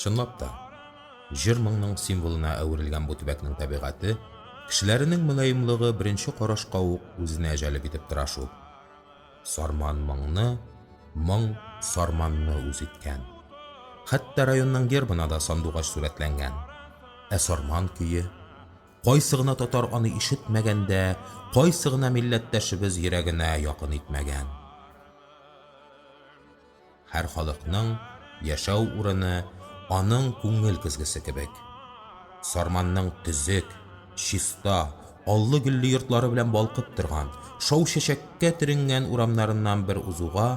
Чынлап та, җыр-моңның символына әверелгән бу төбәкнең табигате, кешеләренең мөлаемлыгы беренче карашка ук үзенә җәлеп итеп тора шул. Сарман моңны, моң Сарманны үз иткән. Хәтта районның гербына да сандугач сурәтләнгән. Ә Сарман көе? Кайсы гына татар аны ишетмәгән дә, кайсы гына милләттәшебез йөрәгенә якын итмәгән. Һәр халыкның яшәү урыны аның күңел көзгесе кебек. Сарманның төзек, чиста, аллы-гөлле йортлары белән балкып торган, шау чәчәккә төренгән урамнарыннан бер узуга,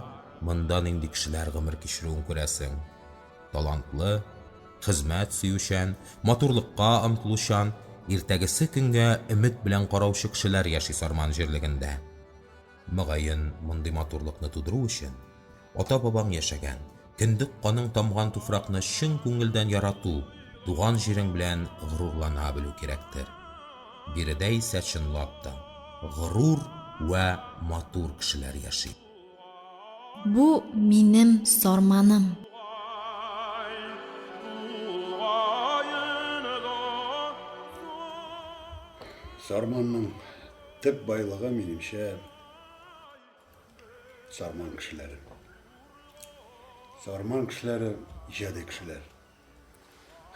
монда нинди кешеләр гомер кичерүен күрәсең. Талантлы, хезмәт сөючән, матурлыкка омтылучан, иртәгесе көнгә өмет белән караучы кешеләр яши Сарман җирлегендә. Мөгаен, мондый матурлыкны тудыру өчен ата-бабаң яшәгән, кендек каның тамган туфракны чын күңелдән ярату, туган җирең белән горурлана белү кирәктер. Биредә исә чынлап та горур вә матур кешеләр яши. Бу, минем Сарманым. Сарманның Төп байлыгы, минемчә, сарман кешеләре. Сарман кешеләре иҗади кешеләр,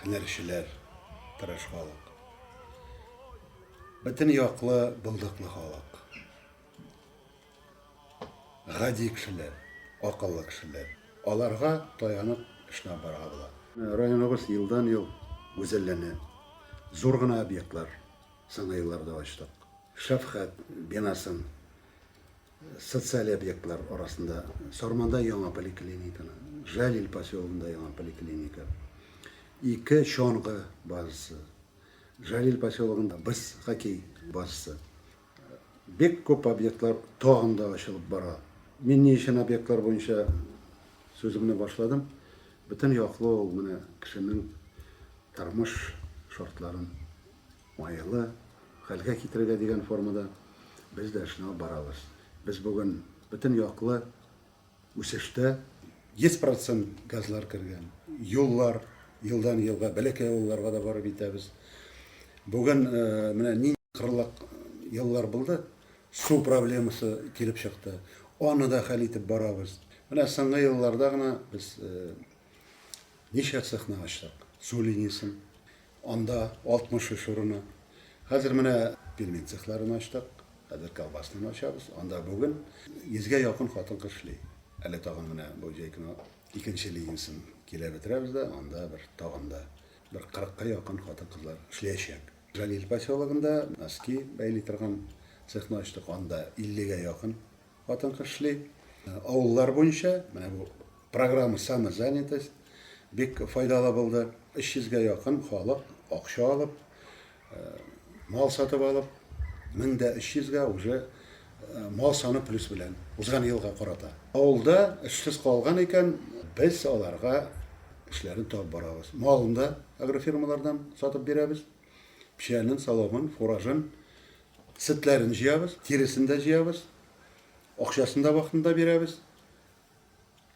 һөнәрчеләр, тырыш халык. Бөтен яклы, булдыклы халык. Гади кешеләр, акыллы кешеләр. Аларга таянып эшләп барга була. Районыбыз елдан-ел гүзәлләнә. Зур гына объектлар Соңгы елларда ачтык. Шәфкать бинасын социаль объектлар арасында Сарманда яңа поликлиниканы, Жалил поселогында яңа поликлиника, ике чаңгы базасы, Жалил поселогында без хоккей базасы. Бик күп объектлар тагын да ачылып бара. Мин ни өчен объектлар буенча сүземне башладым? Бөтен яклы ул менә кешенең тормыш шартларын Майлы хәлгә китерергә дигән формада без дә эшне алып барабыз. Без бүген бөтен яклы үсештә. 100 процент газлар кергән. Юллар елдан-елга бәләкәй авылларга да барып итәбез. Бүген э, менә нинди кырлак еллар булды, су проблемасы килеп чыкты. Аны да хәл итеп барабыз. Менә соңгы елларда гына без э, ничә цехны ачтык, су линиясен. Анда 63 урыны. Хәзер менә пельмен цехларын ачтык, хәзер колбаснаны ачабыз. Анда бүген 100 гә якын хатын-кыз эшли. Әле тагын менә бу җәй көне икенче линиясен килә бетерәбез дә, анда бер тагын да бер 40 ка якын хатын-кызлар эшләячәк. Җәлил поселогында носки бәйли торган цехны ачтык, анда 50 гә якын Хатын-кыз эшли. Авыллар буенча менә бу программа Самозанятость бик файдалы булды. 300 гә якын халык акча алып, мал сатып алып, 1300 гә уже мал саны плюс белән узган елга карата. Авылда эшсез калган икән, без аларга эшләрен табып барабыз. Малын да агрофирмалардан сатып бирәбез. Печәнен, соломын, фуражын, сетләрен җыябыз, тиресен дә җыябыз, акчасын да вакытында бирәбез.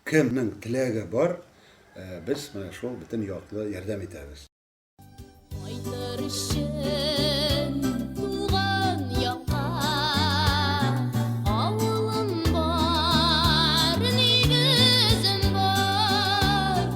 Кемнең теләге бар, э, без менә шул бөтен яклы ярдәм итәбез. Кайтыр өчен туган якка Авылым бар, нигезем бар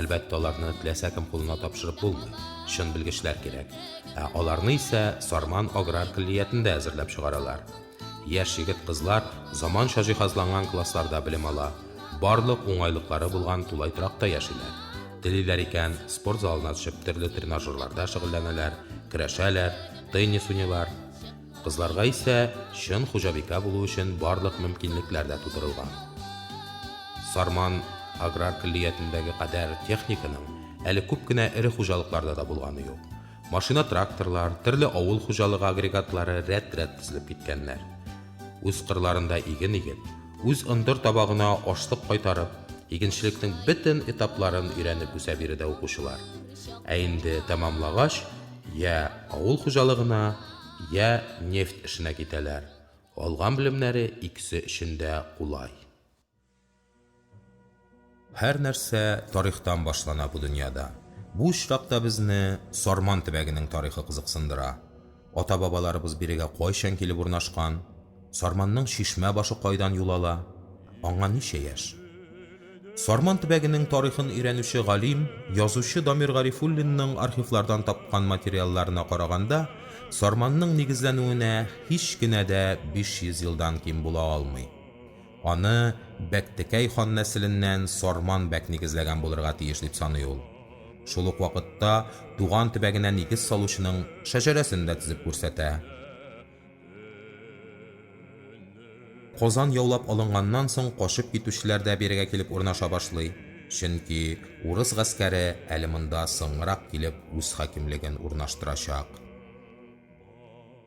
Әлбәттә, аларны теләсә кем кулына тапшырып булмый, чын белгечләр кирәк. Ә аларны исә Сарман аграр көллиятендә әзерләп чыгаралар. Яшь егет-кызлар заманча җиһазланган классларда белем ала, барлык уңайлыклары булган тулай торакта яшиләр. Телиләр икән, спорт залына төшеп төрле тренажерларда шөгыльләнәләр, көрәшәләр, теннис уйныйлар. Кызларга исә чын хуҗабикә булу өчен барлык мөмкинлекләр дә тудырылган. Сарман аграр көллиятендәге кадәр техниканың әле күп кенә эре хуҗалыкларда да булганы юк. Машина-тракторлар, төрле авыл хуҗалыгы агрегатлары рәт-рәт тезелеп киткәннәр. Үз кырларында иген игеп, үз ындыр табагына ашлык кайтарып, игенчелекнең бөтен этапларын өйрәнеп үсә биредә укучылар. Ә инде тәмамлагач, йә авыл хуҗалыгына, йә нефть эшенә китәләр. Алган белемнәре икесе өчен дә кулай. Һәр нәрсә тарихтан башлана бу дөньяда. Бу очракта безне Сарман төбәгенең тарихы кызыксындыра. Ата-бабаларыбыз бирегә кайчан килеп урнашкан? Сарманның чишмә башы кайдан юл ала? Аңа ничә яшь? Сарман төбәгенең тарихын өйрәнүче галим, язучы Дамир Гарифуллинның архивлардан тапкан материалларына караганда, Сарманның нигезләнүенә һич кенә дә 500 елдан ким була алмый. Аны Бәктекәй хан нәселеннән Сарман бәк нигезләгән булырга тиеш дип саный ул. Шул ук вакытта туган төбәгенә нигез салучының шәҗәрәсен дә тезеп күрсәтә. Казан яулап алынганнан соң качып китүчеләр дә бирегә килеп урнаша башлый, чөнки урыс гаскәре әле монда соңрак килеп үз хакимлеген урнаштырачак.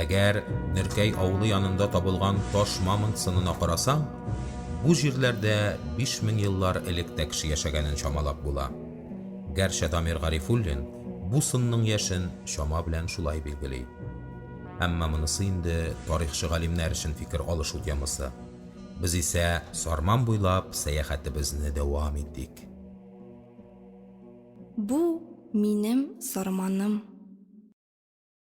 Әгәр Нөркәй авылы янында табылган таш мамонт сынына карасаң, бу җирләрдә 5000 еллар элек тә кеше яшәгәнен чамалап була. Гәрчә Дамир Гарифуллин бу сынның яшен чама белән шулай билгели. Әмма монысы инде тарихчы галимнәр өчен фикер алышу темасы. Без исә Сарман буйлап сәяхәтебезне дәвам итик. Бу, минем Сарманым.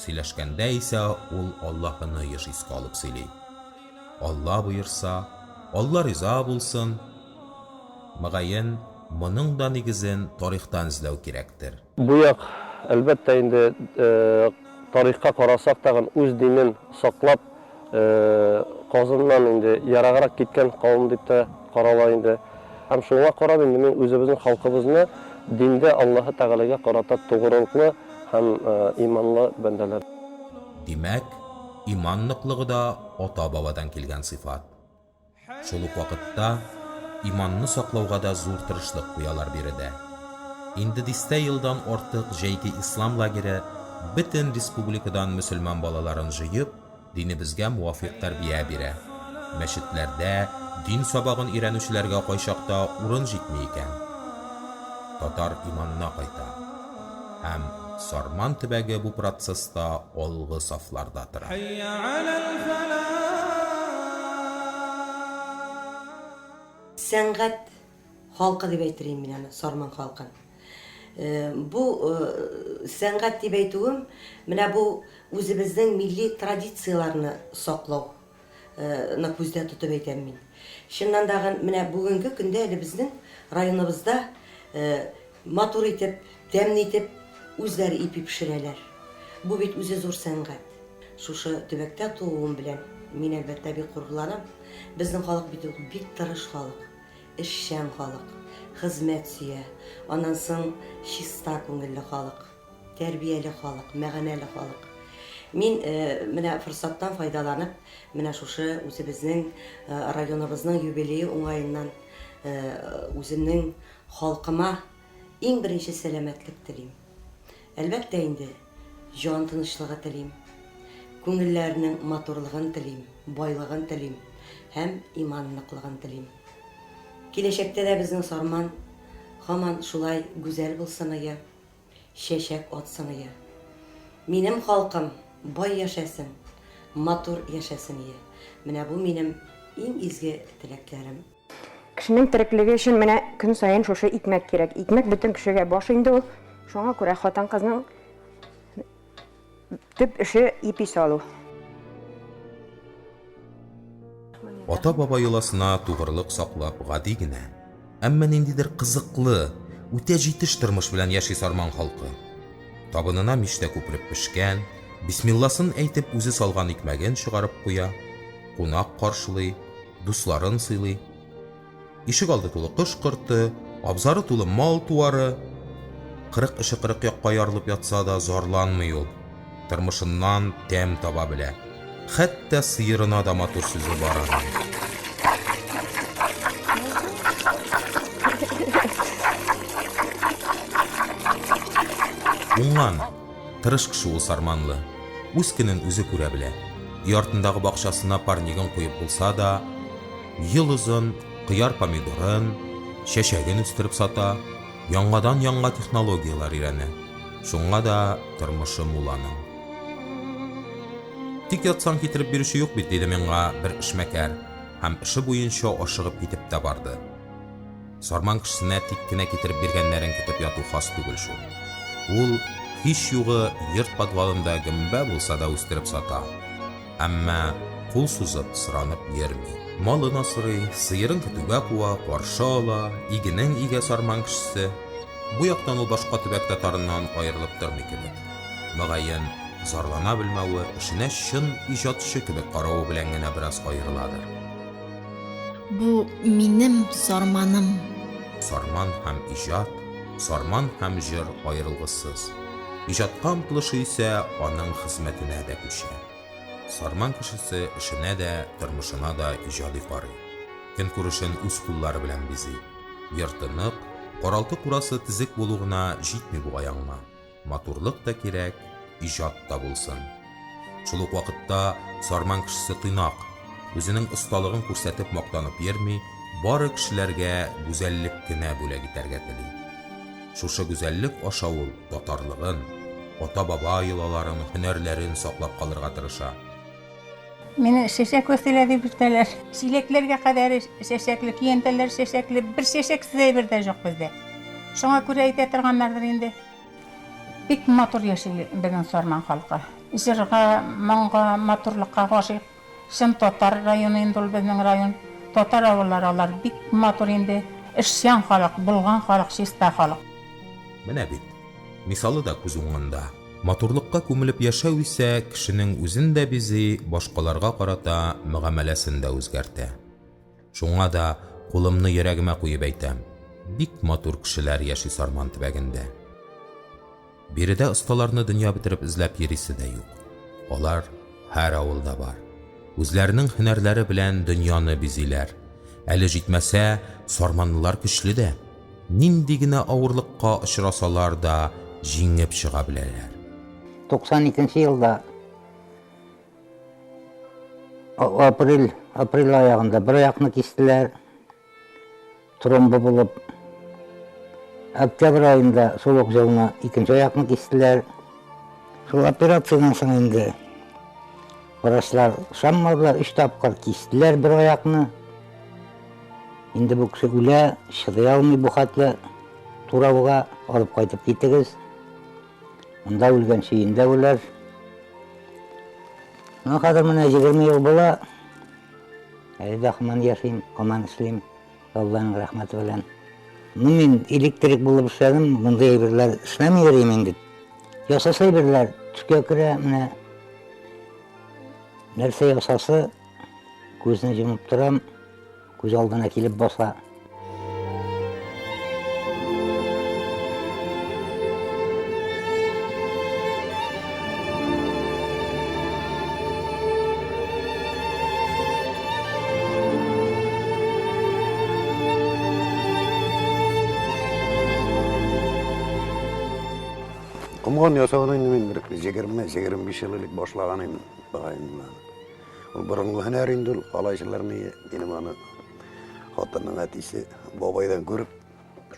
Сөйләшкәндә исә ул Аллаһыны еш искә алып сөйли. Алла боерса, Алла риза булсын. Мөгаен, моның да нигезен тарихтан эзләү кирәктер. Бу як, әлбәттә инде, тарихка карасак тагын үз динен саклап, Казыннан инде ераграк киткән кавым дип тә карала инде. Һәм шуңа карап инде мин үзебезнең халкыбызны диндә Аллаһы Тәгаләгә карата тугрылыклы һәм иманлы бәндәләр. Димәк, иман ныклыгы да ата-бабадан килгән сыйфат. Шул ук вакытта иманны саклауга да зур тырышлык куялар биредә. Инде дистә елдан артык Җәйге ислам лагере бөтен республикадан мөселман балаларын җыеп, динебезгә муафикъ тәрбия бирә. Мәчетләрдә дин сабагын өйрәнүчеләргә кайчакта урын җитми икән. Татар иманына кайта. Һәм Сарман төбәге бу процесста алгы сафларда тора. Сәнгать халкы дип әйтер идем мин аны, Сарман халкын. Бу сәнгать дип әйтүем, менә бу үзебезнең милли традицияләрне саклау Ны күздә тотып әйтәм мин. Чыннан да гын менә бүгенге көндә әле безнең районыбызда матур итеп, тәмле итеп үзләре ипи пешерәләр. Бу бит үзе зур сәнгать. Шушы төбәктә тууым белән мин, әлбәттә, бик горурланам. Безнең халык бит ул бик тырыш халык, эшчән халык, хезмәт сөя, аннан соң чиста күңелле халык. Тәрбияле халык, мәгәнәле халык. Мин менә форсаттан файдаланып, менә шушы үзебезнең районыбызның юбилее уңаеннан үземнең халкыма иң беренче сәламәтлек телим. Әлбәттә инде, җан тынычлыгы телим, күңелләренең матурлыгын телим, байлыгын телим һәм иман ныклыгын телим. Киләчәктә дә безнең Сарман һаман шулай гүзәл булсын, ыя. Чәчәк от сыныя. Минем халкым бай яшәсен, матур яшәсен ие. Менә бу минем иң изге теләкләрем. Кешенең тереклеге өчен менә көн саен шушы икмәк кирәк. Икмәк бөтен кешегә баш инде ул. Шуңа күрә хатын-кызның Төп эше ипи салу. Ата-баба йоласына тугрылык саклап гади генә, әмма ниндидер кызыклы, үтә җитеш тормыш белән яши Сарман халкы. Табынына мичтә күпереп пешкән, бисмилласын әйтеп үзе салган икмәген чыгарып куя, кунак каршылый, дусларын сыйлый. Ишек алды тулы кош корты, абзары тулы мал туары. Кырык эше кырык якка ярылып ятса да, зарланмый ул. Тормышыннан тәм таба белә. Хәтта сыерына да матур сүзе бар аның. Уңган, тырыш кеше ул Сарманлы. Үз көнен үзе күрә белә. Өй артындагы бакчасына парнигын куеп булса да, Ел озын кыяр помидорын, чәчәген үстереп сата, яңадан-яңа технологияләр өйрәнә. Шуңа да тормышы мул аның. Тик ятсаң китереп бирүче юк бит, диде миңа бер эшмәкәр һәм эше буенча ашыгып китеп тә барды. Сарман кешесенә тик кенә китереп биргәннәрен көтеп яту хас түгел шул. Ул, һич югы, йорт подвалында гөмбә булса да үстереп сата. әмма кул сузып соранып йөрми. Малын асрый, сыерын көтүгә куа, каршы ала, игенен игә Сарман кешесе. Бу яктан ул башка төбәк татарыннан аерылып тормый кебек. Мөгаен, зарлана белмәве, эшенә чын иҗатчы кебек каравы белән генә бераз аерыладыр. Бу, минем Сарманым. Сарман һәм иҗат, Сарман һәм җыр аерылгысыз. Иҗатка омтылышы исә аның хезмәтенә дә күчә. Сарман кешесе эшенә дә, тормышына да иҗади карый. Көнкүрешен үз куллары белән бизи. Йорты нык, каралты-курасы тезек булу гына җитми бугай аңа. Матурлык та кирәк, иҗат та булсын. Шул ук вакытта Сарман кешесе тыйнак, үзенең осталыгын күрсәтеп мактанып йөрми, бары кешеләргә гүзәллек кенә бүләк итәргә тели. Шушы гүзәллек аша ул татарлыгын, ата-баба йолаларын, һөнәрләрен саклап калырга тырыша. Мине чәчәк Вәсилә дип йөртәләр. Чиләкләргә кадәр чәчәкле, көянтәләр чәчәкле, бер чәчәксез әйбер дә юк бездә. Шуңа күрә әйтә торганнардыр инде. Бик матур яши безнең Сарман халкы. Җырга, моңга, матурлыкка гашыйк. Чын татар районы инде ул безнең район. Татар авыллары алар бик матур инде. Эшчән халык, булган халык, чиста халык. Менә бит, мисалы да күз уңында. Матурлыкка күмелеп яшәү исә кешенең үзен дә бизи, башкаларга карата мөгамәләсен дә үзгәртә. Шуңа да кулымны йөрәгемә куеп әйтәм, бик матур кешеләр яши Сарман төбәгендә. Биредә осталарны дөнья бетереп эзләп йөрисе дә юк. Алар һәр авылда бар. Үзләренең һөнәрләре белән дөньяны бизиләр. Әле җитмәсә, сарманлылар көчле дә. Нинди генә авырлыкка очрасалар да, җиңеп чыга беләләр. 92 нче елда. Апрель, апрель аягында бер аяқны кистеләр. Тромбы булып. Октябрь айында сулык җылына икенче аяқны кистеләр. Шул операциянең соң инде врачлар шаммадылар, өч тапкыр кистеләр бер аяқны. Инде бу кеше үлә, чыдый алмый бу хәтле турауга, алып кайтып китегез. Монда үлгән чиендә үләр. Ну, хәзер менә 20 ел була. Әле дә хаман яшим, хаман эшлим. Алланың рәхмәте белән. Ну, мин электрик булып эшләдем, мондый әйберләр эшләми йөрим инде. Ясаса әйберләр төшкә керә, менә нәрсә ясасы күзне җомып торам. Күз алдына килеп баса. Комган ясауны инде мин бер 20-25 ел элек башлаган идем, Ул борынгы һөнәр инде ул калайчылар ни минем аны хатынның әтисе бабайдан күреп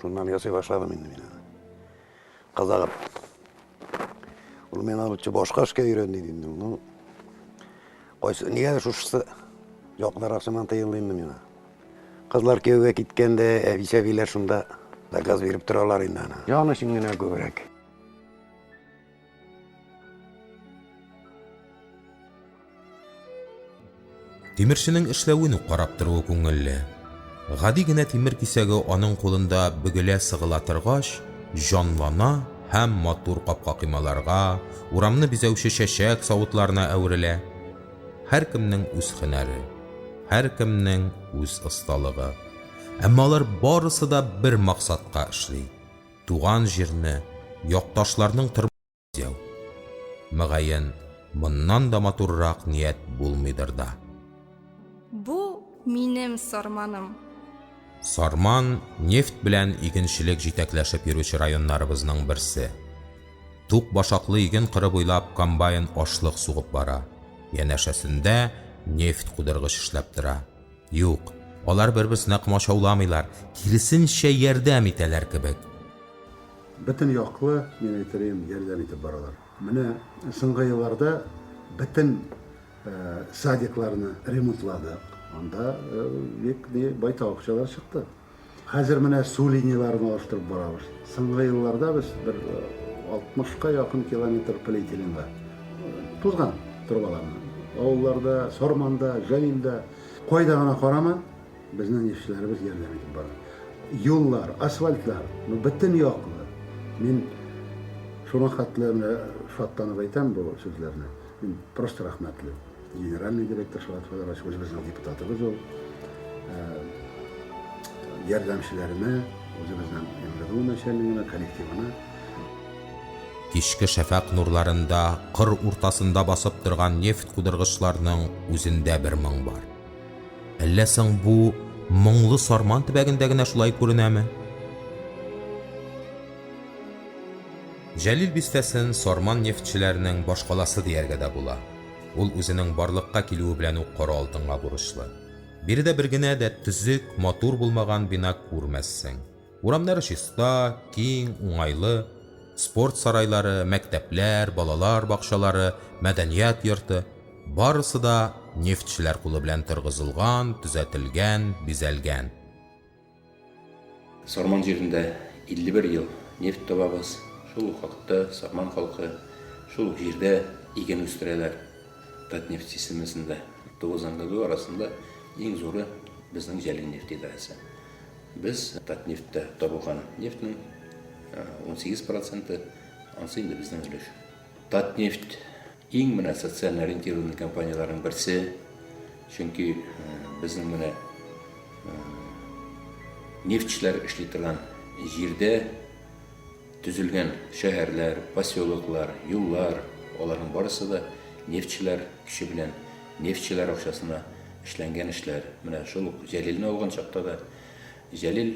шуннан ясый башладым инде мин аны. Казагып. Ул мен аны башка эшкә өйрәнде инде. Ну, кайсы нигә шушысы якынрак сыман тыелды инде миңа. Кызлар кияүгә киткәндә әбисәбиләр шунда заказ биреп торалар инде аны. Яны өчен генә күбрәк. Тимерченең эшләвен үк карап торуы күңелле. Гади генә тимер кисәге аның кулында бөгелә-сыгыла торгач, җанлана һәм матур капка-коймаларга, урамны бизәүче чәчәк савытларына әверелә. Һәркемнең үз һөнәре, һәркемнең үз осталыгы. Әмма алар барысы да бер максатка эшли. Туган җирне, якташларның тормышын бизәү. Мөгаен, моннан да матуррак ният булмыйдыр да. Бу, минем Сарманым. Сарман, нефть белән игенчелек җитәкләшеп йөрүче районнарыбызның берсе. Тук башаклы иген кыры буйлап комбайн ашлык сугып бара, янәшәсендә нефть кудыргыч эшләп тора. Юк, алар бер-берсенә комачауламыйлар, киресенчә ярдәм итәләр кебек. Бөтен яклы, мин әйтерием, ярдәм итеп баралар. Менә соңгы елларда бөтен садикларны ремонтладык, анда бик байтак акчалар чыкты. Хәзер менә су линияләрен алыштырып барабыз. Соңгы елларда без бер 60-ка э, якын километр полиэтиленга тузган трубаларны. Авылларда, Сорманда, Җәлилдә, кайда гына карама, безнең нефтьчеләребез ярдәм итеп бара. Юллар, асфальтлар, ну, бөтен яклы. Мин шуңа хәтле шатланып әйтәм бу сүзләрне. Мин просто рәхмәтле. Генеральный директор Шалат Федорович үзебезнең депутатыбыз ул. Ярдәмчеләренә, үзебезнең МВДУ начальнигына, коллективына. Кичке шәфәкъ нурларында кыр уртасында басып торган нефть кудыргычларның үзендә бер моң бар. Әллә соң бу моңлы Сарман төбәгендә генә шулай күренәме? Җәлил бистәсен Сарман нефтьчеләренең башкаласы дияргә дә була. Ул үзенең барлыкка килүе белән үк кара алтынга бурычлы. Биредә бер генә дә төзек, матур булмаган бина күрмәссең. Урамнары чиста, киң, уңайлы. Спорт сарайлары, мәктәпләр, балалар бакчалары, мәдәният йорты, барысы да нефтьчеләр кулы белән торгызылган, төзәтелгән, бизәлгән. Сарман җирендә 51 ел нефть табабыз, шул ук вакытта Сарман халкы шул ук җирдә иген үстерәләр. Татнефть системасында тугыз НГДУ арасында иң зуры безнең Җәлил нефть идарәсе. Без Татнефтьтә табылган нефтьнең 18 проценты, ансы инде безнең өлеш. Татнефть Иң менә социаль ориентированный компанияләрнең берсе, чөнки безнең менә нефтьчеләр эшли торган җирдә төзелгән шәһәрләр, поселоклар, юллар, аларның барысы да нефтьчеләр көче белән, нефтьчеләр акчасына эшләнгән эшләр. Менә шул ук Җәлилне алган чакта да Җәлил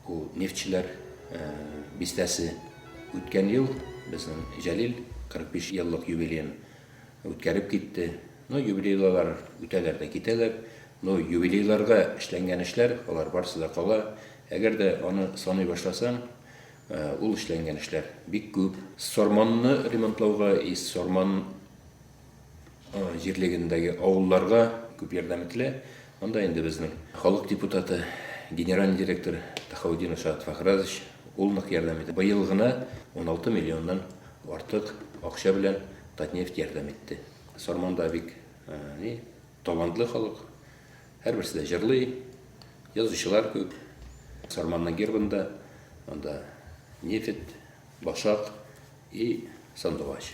Ул Нефтьчеләр бистәсе үткән ел безнең Җәлил 45 еллык юбилеен үткәреп китте. Ну, юбилейлылар үтәләр дә китәләр. Ну, юбилейларда эшләнгән эшләр, алар барысы да кала. Әгәр дә аны саный башласаң, ул эшләнгән эшләр бик күп. Сорманны ремонтлауга и Сорман җирлегендәге авылларга күп ярдәм ителә. Анда инде безнең халык депутаты, генеральный директор Тахаудинов Шат Фахразович ул нык ярдәм итә. Быел гына 16 миллионнан артык акча белән Татнефть ярдәм итте. Сарманда бик ни талантлы халык. Һәрберсе дә җырлый, язучылар күп. Сарманның гербында анда нефть, башак и сандугач.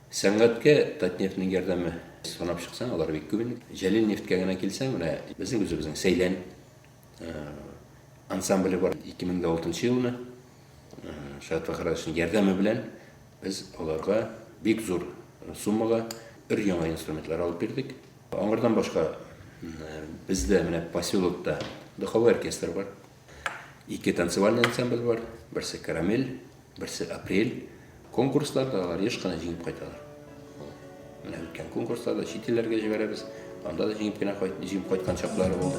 Сәнгатькә Татнефтьнең ярдәме санап чыксаң, алар бик күп инде. Җәлил нефтькә генә килсәң, менә безнең үзебезнең Сәйлән э, ансамбле бар. 2006 елны э, Шат Фахрадовичның ярдәме белән без аларга бик зур суммага өр яңа инструментлар алып бирдек. Аңардан башка э, бездә менә поселокта духовой оркестр бар. Ике танцевальный ансамбль бар, берсе карамель, берсе апрель. Конкурсларда алар еш кына җиңеп кайталар. Менә үткән конкурсларда чит илләргә җибәрәбез, анда да җиңеп кенә кайт, җиңеп кайткан чаклары булды.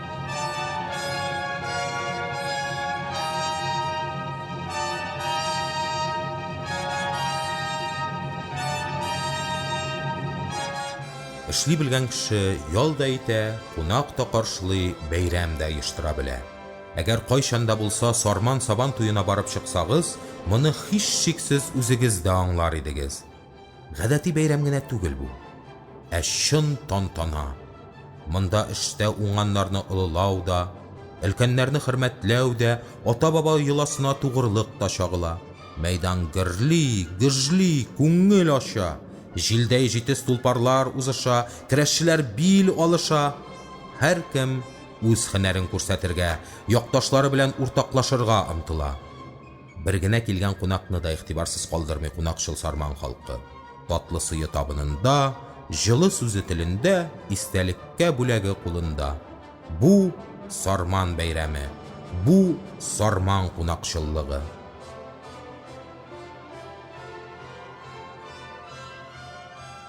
Эшли белгән кеше ял да итә, кунак та каршылый, бәйрәм дә оештыра белә. Әгәр кайчан да булса Сарман Сабан туена барып чыксагыз, моны һичшиксез үзегез дә аңлар идегез. Гадәти бәйрәм генә түгел бу, ә чын тантана. Монда эштә уңганнарны олылау да, өлкәннәрне хөрмәтләү дә, ата-баба йоласына тугрылык та чагыла. Мәйдан гөрли, гөжли, күңел ача. Җилдәй җитез тулпарлар узыша, көрәшчеләр бил алыша. Һәркем үз һөнәрен күрсәтергә, якташлары белән уртаклашырга омтыла. Бер генә килгән кунакны да игътибарсыз калдырмый кунакчыл Сарман халкы. Татлы сые табынында, җылы сүзе телендә, истәлеккә бүләге кулында. Бу, Сарман бәйрәме. Бу, Сарман кунакчыллыгы.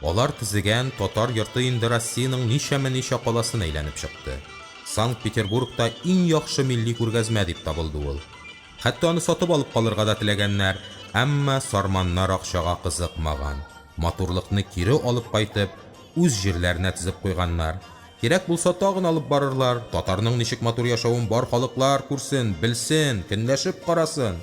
Алар төзегән Татар йорты инде Россиянең ничәме ничә каласын әйләнеп чыкты. Санкт-Петербургта иң яхшы милли күргәзмә дип табылды ул. Хәтта аны сатып алып калырга да теләгәннәр, әмма сарманнар акчага кызыкмаган, матурлыкны кире алып кайтып, үз җирләренә тезеп куйганнар. Кирәк булса, тагын алып барырлар, татарның ничек матур яшәвен бар халыклар күрсен, белсен, көнләшеп карасын!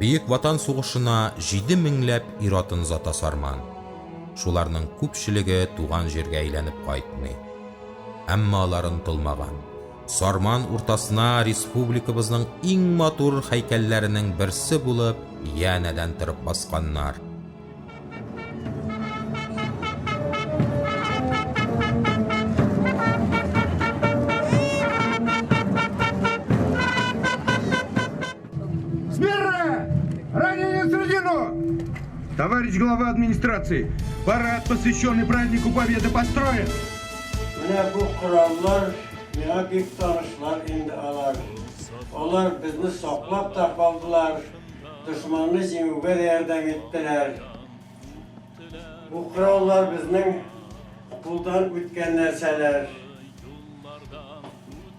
Бөек Ватан сугышына җиде меңләп ир-атын озата Сарман. Шуларның күпчелеге туган җиргә әйләнеп кайтмый. Әмма алар онытылмаган. Сарман уртасына республикабызның иң матур һәйкәлләренең берсе булып янәдән торып басканнар. Смирно! Ранение средину! Товарищ глава администрации, парад, посвященный празднику Победы, построен! Менә бу кораллар миңа бик танышлар инде алар. Алар безне саклап та калдылар, дошманны җиңүгә дә ярдәм иттеләр. Бу кораллар безнең кулдан үткән нәрсәләр.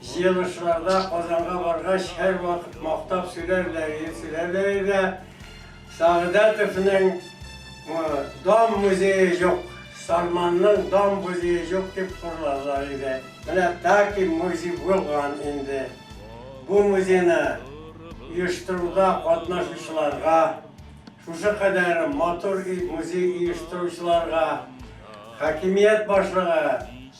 Җыелышларда Казанга баргач һәрвакыт мактап сөйләрләр иде, сөйләрләр иде. Сәгъдәтовның Дом музее җук, Сарманның Дом музее җук дип хурларлар иде. Менә таки музей булган инде. Бу музейны оештыруда катнашучыларга, шушы кадәр матур музей оештыручыларга хакимият башлыгы,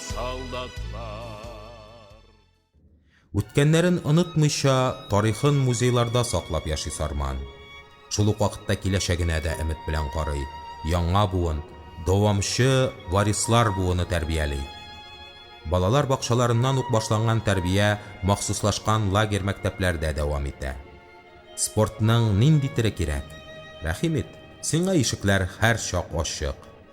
солдатлар. Үткәннәрен онытмыйча, тарихын музейларда саклап яши Сарман. Шул ук вакытта киләчәгенә дә өмет белән карый, яңа буын, дәвамчы варислар буыны тәрбияли. Балалар бакчаларыннан ук башланган тәрбия махсуслашкан лагерь-мәктәпләрдә дәвам итә. Спортның нинди теле кирәк? Рәхим ит, сиңа ишекләр һәрчак ачык.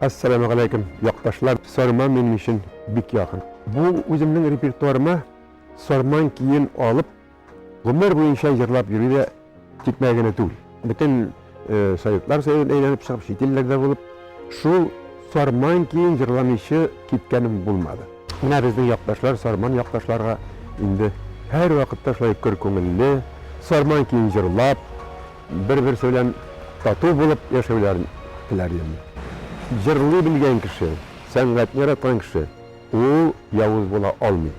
Ассаламугаләйкем, якташлар! Сарман минем өчен бик якын. Бу үземнең репертуарыма сарман киен алып, гомер буенча җырлап йөрү дә тикмә генә түгел. Бөтен советлар союзын әйләнеп чыгып, чит илләрдә булып, шул сарман киен җырламыйчы киткәнем булмады. Менә безнең якташлар, сарман якташларга инде һәрвакытта шулай көр күңелле, сарман киен җырлап, Бер-берсе белән тату булып яшәүләрен теләрлем. Җырлый белгән кеше, сәнгатьне яраткан кеше, ул явыз була алмый.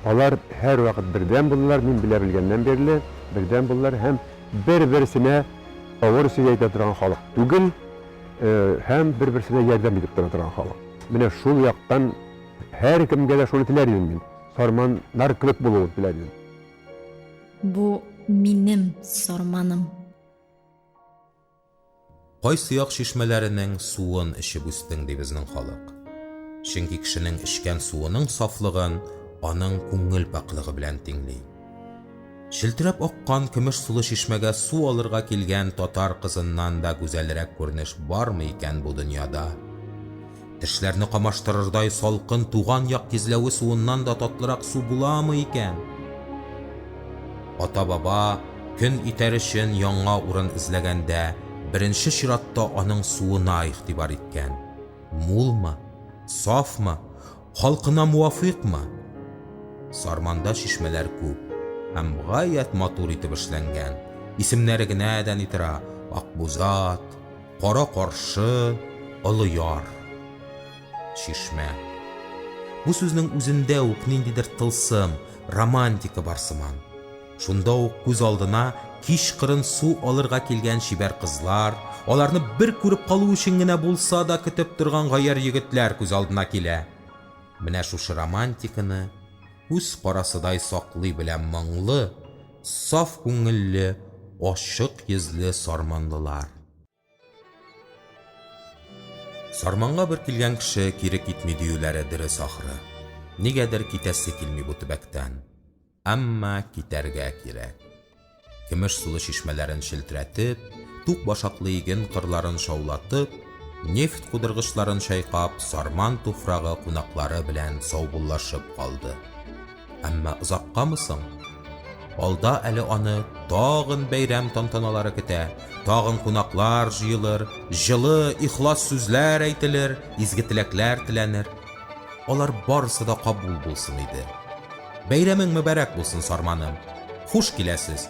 Алар һәрвакыт бердәм булдылар, мин белә белгәннән бирле бердәм булдылар һәм бер-берсенә авыр сүз әйтә торган халык түгел, һәм бер-берсенә ярдәм итеп тора торган халык. Менә шул яктан һәркемгә дә шуны теләр идем мин, сарманнар кебек булуын теләр идем. Бу минем сарманым. Кайсы як чишмәләренең суын эчеп үстең, ди безнең халык. Чөнки кешенең эчкән суының сафлыгын аның күңел пакьлыгы белән тиңли. Челтерәп аккан көмеш сулы чишмәгә су алырга килгән татар кызыннан да гүзәлрәк күренеш бармы икән бу дөньяда? Тешләрне камаштырырдай салкын туган як тизләве суыннан да татлырак су буламы икән? Ата-баба көн итәр өчен яңа урын эзләгәндә, беренче чиратта аның суына игътибар иткән. Мулмы? Сафмы? Халкына муафыйкмы? Сарманда чишмәләр күп һәм гаять матур итеп эшләнгән. Исемнәре генә дә ни тора, Акбузат, Кара-каршы, олы яр. Чишмә. Бу сүзнең үзендә үк ниндидер тылсым, романтика бар сыман. Шунда ук күз алдына кичкырын су алырга килгән чибәр кызлар, аларны бер күреп калу өчен генә булса да көтеп торган гаярь егетләр күз алдына килә. Менә шушы романтиканы күз карасыдай саклый белә моңлы, Саф күңелле, ачык йөзле сарманлылар. Сарманга бер килгән кеше кире китми диюләре дөрес ахры. Нигәдер китәсе килми бу төбәктән. Әмма китәргә кирәк. Көмеш сулы чишмәләрен челтерәтеп, тук башаклы иген кырларын шаулатып, нефть кудыргычларын чайкап, сарман туфрагы кунаклары белән саубуллашып калды. Әмма озаккамы соң? Алда әле аны тагын бәйрәм тантаналары көтә, тагын кунаклар җыелыр, җылы, ихлас сүзләр әйтелер, изге теләкләр теләнер. Алар барысы да кабул булсын иде. Бәйрәмең мөбарәк булсын, Сарманым! Хуш киләсез!